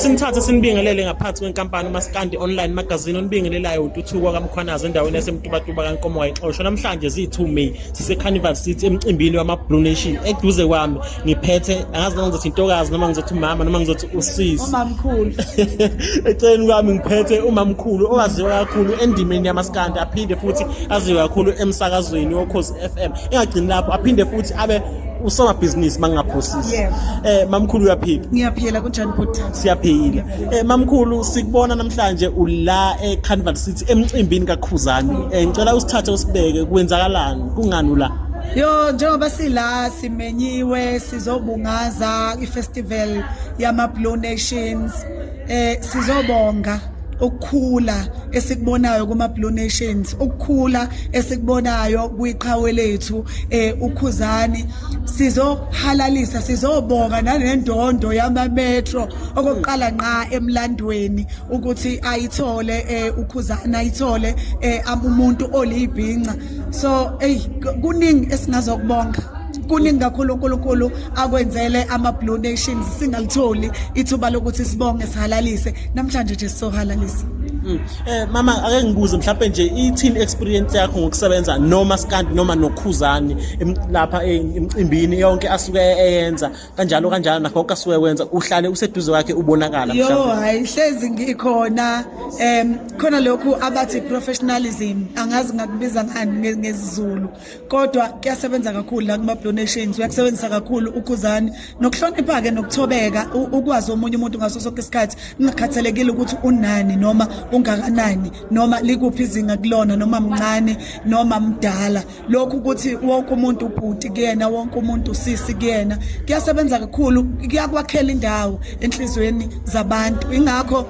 Simthathe simbingelele ngaphansi kwenkampani uMaskandi Online Magazine onibingelelayo uNtuthuko kaMkhwanazi endaweni yaseMtubatuba kaNkomo wayixoshwa namhlanje ziyi-2 May siseCarnival City emcimbini wama-Blue Nation eduze kwami ngiphethe angazi noma ngizothi intokazi noma ngizothi umama noma ngizothi usisi umamkhulu eceleni kwami ngiphethe umamkhulu owaziwa kakhulu endimeni yamaskandi aphinde futhi aziwe kakhulu emsakazweni wokhozi FM engagcini lapho aphinde futhi abe usomabhizinisi mangingaphosisi yeah. eh mamkhulu uyaphila ngiyaphila kunjani bhuti siyaphila eh mamkhulu sikubona namhlanje ula e Carnival City emcimbini kaKhuzani eh ngicela usithathe usibeke kwenzakalani kungani ula Yo njengoba sila simenyiwe sizobungaza ifestival yama Blue Nations eh sizobonga ukukhula esikubonayo kuma Blue Nations ukukhula esikubonayo kwiqhawe lethu eh ukhuzani sizohalalisa sizobonga nanendondo yama metro okokuqala nqa emlandweni ukuthi ayithole eh ukhuzana ayithole eh umuntu olibhinca so hey kuningi esingazokubonga kuningi kakhulu uNkulunkulu akwenzele ama blue nations singalitholi ithuba lokuthi sibonge sihalalise namhlanje nje sizohalalisa mm. eh mama ake ngibuze mhlawumbe nje i team experience yakho ngokusebenza noma skandi noma nokhuzani lapha e, emcimbini yonke asuke eyenza kanjalo kanjalo nakho konke asuke wenza uhlale useduze kwakhe ubonakala mhlawumbe yo hayi hlezi ngikhona em khona lokhu abathi professionalism angazi ngakubiza ngani ngezizulu kodwa kuyasebenza kakhulu la kuma donations uyakusebenzisa kakhulu ukhuzani nokuhlonipha ke nokuthobeka ukwazi omunye umuntu ngaso sonke isikhathi kungakhathalekile ukuthi unani noma ungakanani noma likuphi izinga kulona noma mncane noma mdala lokhu ukuthi wonke umuntu ubhuti kuyena wonke umuntu usisi kuyena kuyasebenza kakhulu kuyakwakhela indawo enhlizweni zabantu ingakho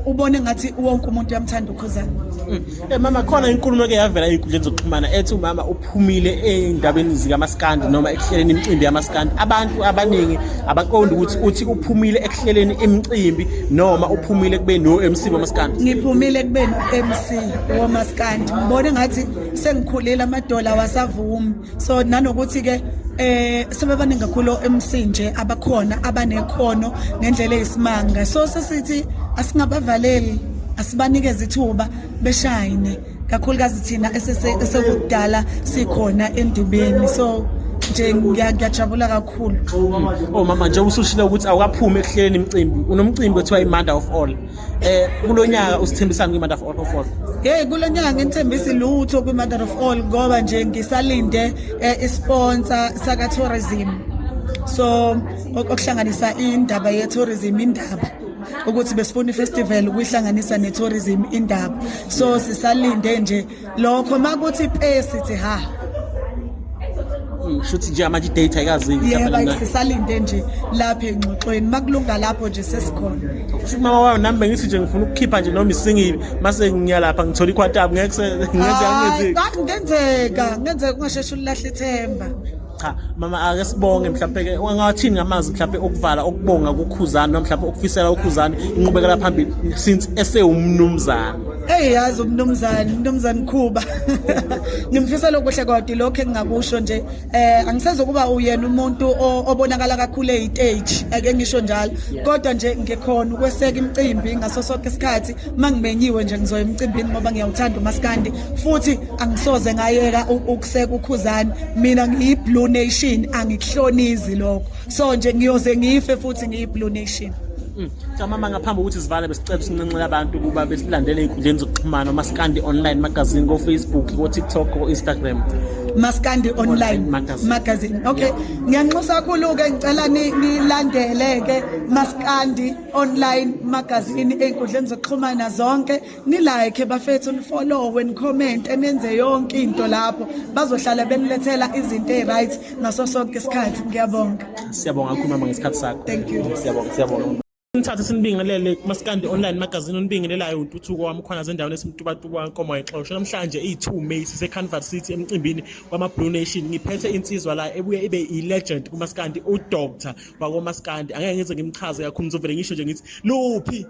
ubone ngathi wonke umuntu uyamthanda ukhuzani mm. Eh, mama khona inkulumo eke yavela ey'nkundleni zokuxhumana ethi umama uphumile ey'ndabeni zikamaskandi noma ekuhleleni imicimbi yamaskandi abantu abaningi abaqondi ukuthi uthi uphumile ekuhleleni imicimbi noma uphumile ekubeni o-mc wamaskandi ngiphumile ekubeni u-mc womaskandi ngibone ngathi sengikhulile amadola wasavumi so nanokuthi ke eh sebebaningi kakhulu emsinje abakhona abanekhono ngendlela eyisimanga so sesithi asingabavaleli asibanikeze ithuba beshayine kakhulukazi thina esekudala sikhona endubeni so nje ngiyajabula kakhulu oh mama nje usushilo ukuthi awukaphumi ekuhleleni imicimbi unomcimbi othiwa imanda of all eh kulo nyaka usithembisani kwi-matter of all of all hey kulo nyaka nginithembisi lutho kwi-matter of all ngoba nje ngisalinde eh, isponsa sakatourism so okuhlanganisa indaba ye-tourism indaba ukuthi besifuna ifestival ukuyihlanganisa ne-tourism indaba so sisalinde nje lokho makuthi pe sithi ha shuthi nje amanje idate ayikazingi yebo sisalinde nje lapha engxoxweni makulunga lapho nje sesikhona shuthi mama wayo nami bengithi nje ngifuna ukukhipha nje noma isingibi mase ngiya lapha ngithola ikhwatabu ngeke ngenze ngenzeka ngenzeka ungasheshe ulahle ithemba cha mama ake sibonge mhlawumbe ke ungathini ngamazi mhlawumbe okuvala okubonga kukhuzana noma mhlawumbe okufisela ukhuzana inqubekela phambili since esewumnumzana hey yazi umnumzane umnumzane Khuba ngimfisela okuhle kodwa lokho engingakusho nje eh angisezokuba uyena umuntu obonakala kakhulu eyitage ake ngisho njalo kodwa nje ngikhona ukweseka imicimbi ngaso sonke isikhathi mangimenyiwe nje ngizoya emicimbini ngoba ngiyawuthanda umaskandi futhi angisoze ngayeka ukuseka ukhuzani mina ngiyi-blue nation angikuhlonizi lokho so nje ngiyoze ngife futhi ngiyi-blue nation Mm. Camama ngaphambi ukuthi sivale besicebe sinqenxela abantu ukuba besilandele ey'nkundleni zokuxhumana umasikandi online magazine ko-facebook ko-tiktok ko-instagram masikandi online magazine okay ngiyanxusa kakhulu-ke ngicela nilandele-ke masikandi online magazine ey'nkundleni zokuxhumana zonke ni like bafethu ni follow when comment enenze yonke into lapho bazohlala benilethela izinto eziright ngaso sonke isikhathi ngiyabonga siyabonga kakhulu mama ngesikhathi sakho thank you siyabonga siyabonga Ngithathe sinibingelele kuMaskandi Online Magazine onibingelelayo uNtuthuko wami khona zendaweni esimtubatuba kaNkomo exosho namhlanje iyi2 May sise Canvas City emcimbini wama Blue Nation ngiphethe insizwa la ebuye ibe i legend kuMaskandi u Doctor wakoMaskandi angeke ngize ngimchaze kakhulu ngizovele ngisho nje ngithi luphi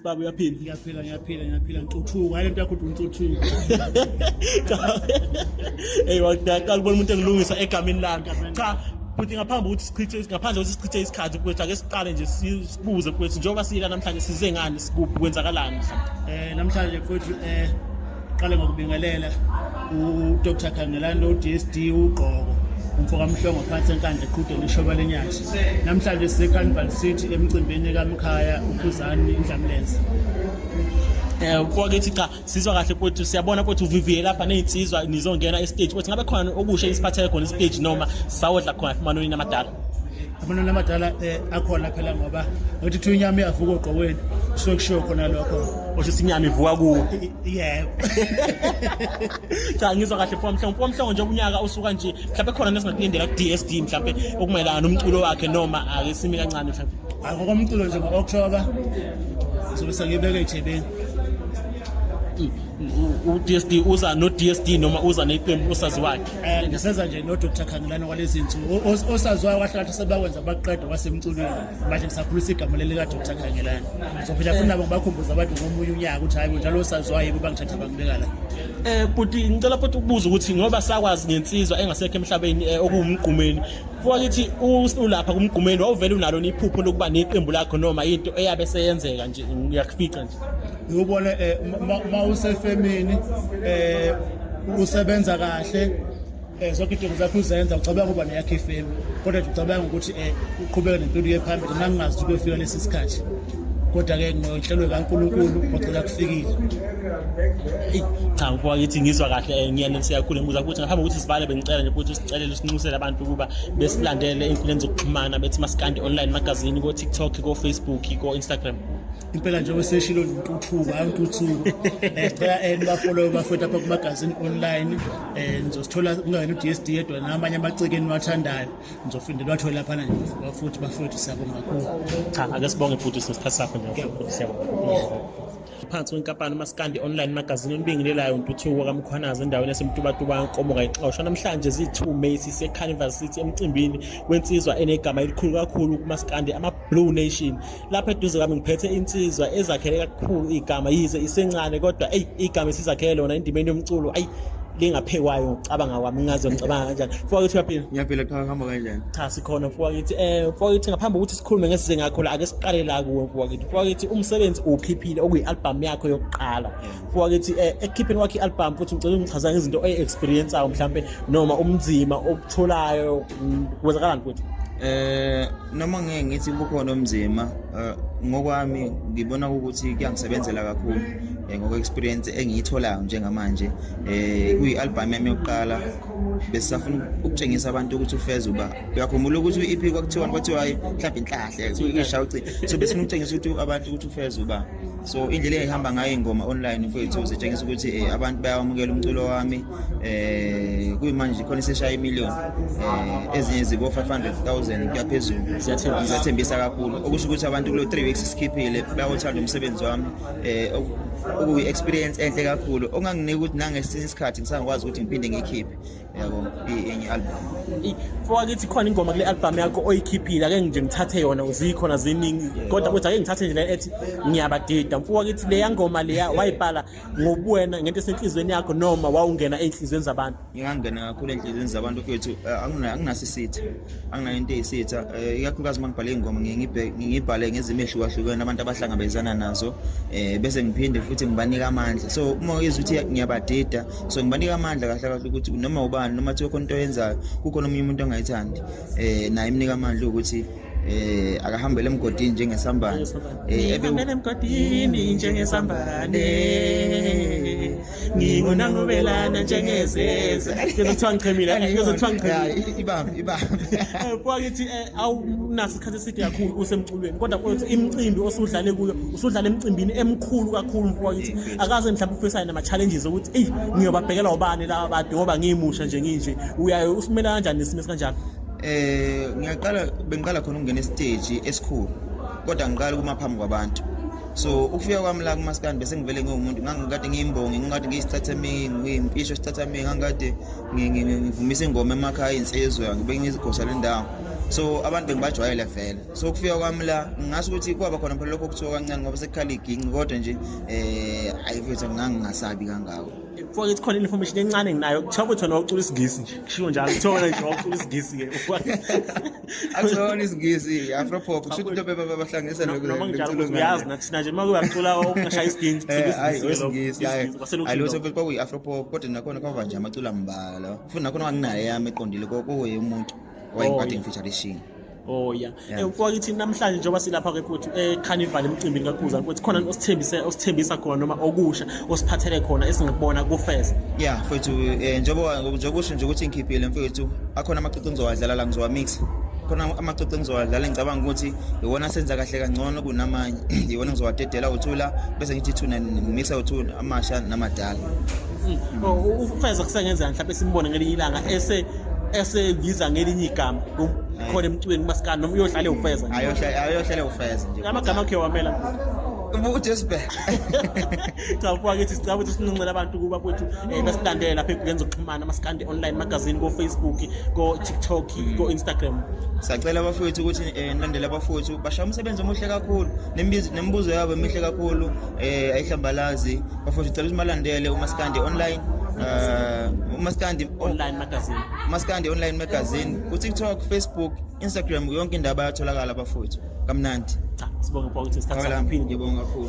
baba uyaphila ngiyaphila ngiyaphila ngiyaphila ntuthuko hayi lento yakho uthi untuthuko hey waqala ubona umuntu engilungisa egameni lami cha futhi ngaphambi ukuthi sichithe ngaphandle ukuthi sichithe isikhathi kwethu ake siqale nje sibuze kwethu njengoba siyila namhlanje size ngani sikuphi kwenzakalani eh namhlanje kwethu eh Qale ngokubingelela uDr Khangelani noDSD uGqoko umfoka Mhlongo phansi enkandla eqhudeni ishoba lenyathi. Namhlanje siseCarnival City emcimbini kaMkhaya uKhuzani iNdlamlenze. Eh kwakithi cha sizwa kahle futhi siyabona futhi uviviye lapha nezinsizwa nizongena e stage futhi ngabe khona okusha isiphathele khona i stage noma sawodla khona emanoni amadala. amanani amadala eh, akhona phela ngoba ngithi kuthiwa inyama iyavuka ogqokweni kusuke kushiwo khona lokho osho ukuthi inyama ivuka kuwo yebo cha ngizwa kahle mfo mhlongo mfo mhlongo nje unyaka usuka nje mhlawumbe khona nesingakulindela ku-dsd mhlawumbe okumayelana nomculo wakhe noma ake simi kancane mhlawumbe hayi ngokomculo nje ngo-october sobe sengibeke ejebeni mm, mm, u-dsd uza no-dsd noma uza neqembu usazi wakhe Eh ngiseza nje no Dr Khangelana kwalezi insuku osaziwayo kwahlala sebakwenza baqeda kwasemculweni manje ngisakhulisa igama leli ka Dr Khangelana sophila futhi nabo ngibakhumbuza abantu ngomunye unyaka ukuthi hayi njalo osaziwayo yebo bangithatha bangibeka la eh buti ngicela futhi ukubuza ukuthi ngoba sakwazi ngensizwa engasekho emhlabeni eh, okuwumgqumeni kwakithi ulapha kumgqumeni wawuvele unalo iphupho lokuba neqembu lakho noma into eyabe seyenzeka nje uyakufica ngiyubone eh, uma usefemini eh, usebenza kahle eh, zonke idingo zakho uzenza ucabanga ukuba neyakho ifemu kodwa nje ucabanga ukuthi um uqhubeke nempilo ye phambili mina ngingazi ukuthi kuyofika lesi sikhathi kodwa-ke nginhlelwe kankulunkulu ngocela kufikile cha ngoba ngithi ngizwa kahle eh, ngiyaneliseka kakhulu ngibuza ukuthi ngaphambi kokuthi sivale bengicela nje ukuthi usicelele usinxusele abantu ukuba besilandele ey'nkundleni zokuxhumana bethi masikande online magazini ko-tiktok ko-facebook ko-instagram impela nje weseshilo intuthuko hayi intuthuko eh, cela eh, nibafolowe bafowethu apha kumagazini online um eh, nizosithola kungayena u-d s d yedwa namanye amaciki eniwathandayo nizofinde niwathole laphana nje bafuthi bafowethu siyabonga kakhulu cha ake sibonge futhi sesikhathi sakho nje siyabonga phansi kwenkampani umasikandi online magazini olubingelelayo ntuthuko kamkhwanazi endaweni yasemtubatuba nkomo kayixoshwa namhlanje ziyi-2 may sisecarnival city emcimbini wensizwa enegama elikhulu kakhulu kumasikandi ama-blue nation lapha eduze kwami ngiphethe insizwa ezakhele kakhulu igama yize isencane kodwa eyi igama isizakhele lona endimeni yomculo ayi lingaphekwayo ngicabanga kwami ngazo ngicabanga kanjani mfoka kithi uyaphila ngiyaphila cha ngihamba kanjani cha sikhona mfoka kithi eh mfoka kithi ngaphambi kokuthi sikhulume ngesize ngakho la ake siqale la kuwe mfoka kithi mfoka kithi umsebenzi ukhiphile okuyi-albhamu yakho yokuqala mfoka kithi eh ekukhipheni kwakho i-albhamu futhi ngicela ungichaza ngezinto oyi-experienceayo mhlawumbe noma umnzima obutholayo kwenzakalani mfowethu eh noma ngeke ngithi kukhona omzima eh, ngokwami ngibona ukuthi kuyangisebenzela kakhulu eh, ngokwe experience engiyitholayo njengamanje eh kuyi album yami yokuqala besafuna ukutshengisa abantu ukuthi ufeza uba uyakhumbula ukuthi u-EP kwakuthiwa kwathiwa mhlawumbe inhlahle kusho ukuthi so besifuna ukutshengisa ukuthi abantu ukuthi ufeza uba so indlela engihamba ngayo ingoma online mfowethu zitshengisa ukuthi eh, abantu bayawamukela umculo wami eh kuyimanje khona iseshaya imillion eh ezinye zibo 500,000 kuyaphezulu Ziyathembisa. ziyathembisa kakhulu okusho ukuthi abantu kulo 3 weeks sikhiphile bayawuthanda umsebenzi wami eh oku- okuyi experience enhle kakhulu onganginika ukuthi nangesinye isikhathi ngisangakwazi ukuthi ngiphinde ngikhiphe yabo enye album fowakithi khona ingoma kule album yakho oyikhiphile ake nje ngithathe yona uzikhona ziningi kodwa kuthi ake ngithathe nje le ethi ngiyabadida mfowakithi leya ngoma leya wayibhala ngobuwena ngento esenhliziyweni yakho noma wawungena enhliziyweni zabantu ngingangena kakhulu enhliziyweni zabantu kwethu eh, anginasisithi anginayo into eyisitha um eh, ikakhulukazi uma ngibhale iy'ngoma ngiyibhale ngezimo ehlukahlukene abantu abahlangabezana nazo um bese ngiphinde futhi ngibanika amandla so uma uyizwa ukuthi ngiyabadida so ngibanika amandla kahle kahle ukuthi noma ubani noma thiwa khona into oyenzayo kukhona omunye umuntu ongayithandi um naye imnika amandla ukuthi eh akahambele emgodini njengesambane eh emgodini njengesambane ngingona ngobelana njengezeze ngizothiwa ngichemile ngizothiwa ngichemile ibambe ibambe eh, kwakithi eh, awunaso isikhathi eside kakhulu usemculweni kodwa kwethu imicimbi osudlale kuyo usudlale emicimbini emkhulu kakhulu mfowethu akaze mhlawumbe ufisayo nama-challenges ukuthi eyi ngiyobabhekela ubani laba bade ngoba ngiyimusha nje nginje uyaye usimela kanjani nesimo esikanjalo eh ngiyaqala bengiqala khona ukungena esiteji esikhulu kodwa ngiqala kuma phambi kwabantu so ukufika kwami la kumaskandi bese ngivele ngiwumuntu ngangikade ngiyimbongi ngingade ngiyisithathamiyi ngiyimpisho isithathamiyi ngangikade ngivumisa ingoma emakhaya insizwe ngibe ngizigosa le ndawo so abantu bengibajwayele vele so ukufika kwami la ngingasho ukuthi kwaba khona phela lokho okuthiwa kancane ngoba sekukhala iginci kodwa nje um ayi fethu ngangingasabi kangako mfoka ithi khona information encane nginayo kuthiwa kuthi wena wawucula isingisi nje kushiwo njalo kuthiwa wena nje wawucula isingisi-ke akusona isingisi afropop kusho ukuthi bebe babahlanganisa noma ngijalo ukuthi uyazi nathi thina nje uma kuyacula okungashaya isigini eh, hayi isingisi hayi lutho futhi kwakuyi afropop kodwa nakhona kwava nje amaculo ambala futhi nakhona wanginaye yami eqondile kokuye umuntu wayengikade oh, ngifeatureishing Oh yeah. Eh kwakithi namhlanje njengoba silapha ke futhi eCarnival eh, emcimbini kaKhuza ukuthi khona osithembise osithembisa khona noma okusha usiphathele khona esingikubona kufeza ya mfethu eh, njengoba njengokusho nje ukuthi ngikhiphile mfethu akhona amacici engizowadlala la ngizowamixa khona amacici engizowadlala ngicabanga ukuthi iwona asenza kahle kangcono kunamanye iwona ngizowadedela uthula bese ngithi thuna ngimise uthula amasha namadala hmm. oh, ufeza kusengenzeka mhlawumbe simbone ngelinye ilanga ese esebiza ngelinye igama khona emcweni kumasikani noma uyohlale ufeza ayohlale ufeza nje amagama akhe wamela uJesu bhe cha ubuka kithi sicela ukuthi sinuncele abantu kuba kwethu eh, basilandele lapha enkundleni zokuxhumana masikande online magazine ko-facebook ko-tiktok mm. ko-instagram sacela abafowethu ukuthi um nilandele abafowethu bashaya umsebenzi omuhle kakhulu nemibuzo yabo emihle kakhulu um eh, ayihlambalazi bafowethu cela ukuthi malandele umasikande online um umasikandi online magazine umasikandi online magazine ku-tiktok facebook Instagram yonke indaba yatholakala bafowethu kamnandi cha sibonga bafowethu isikhathi sakho ngibonga kakhulu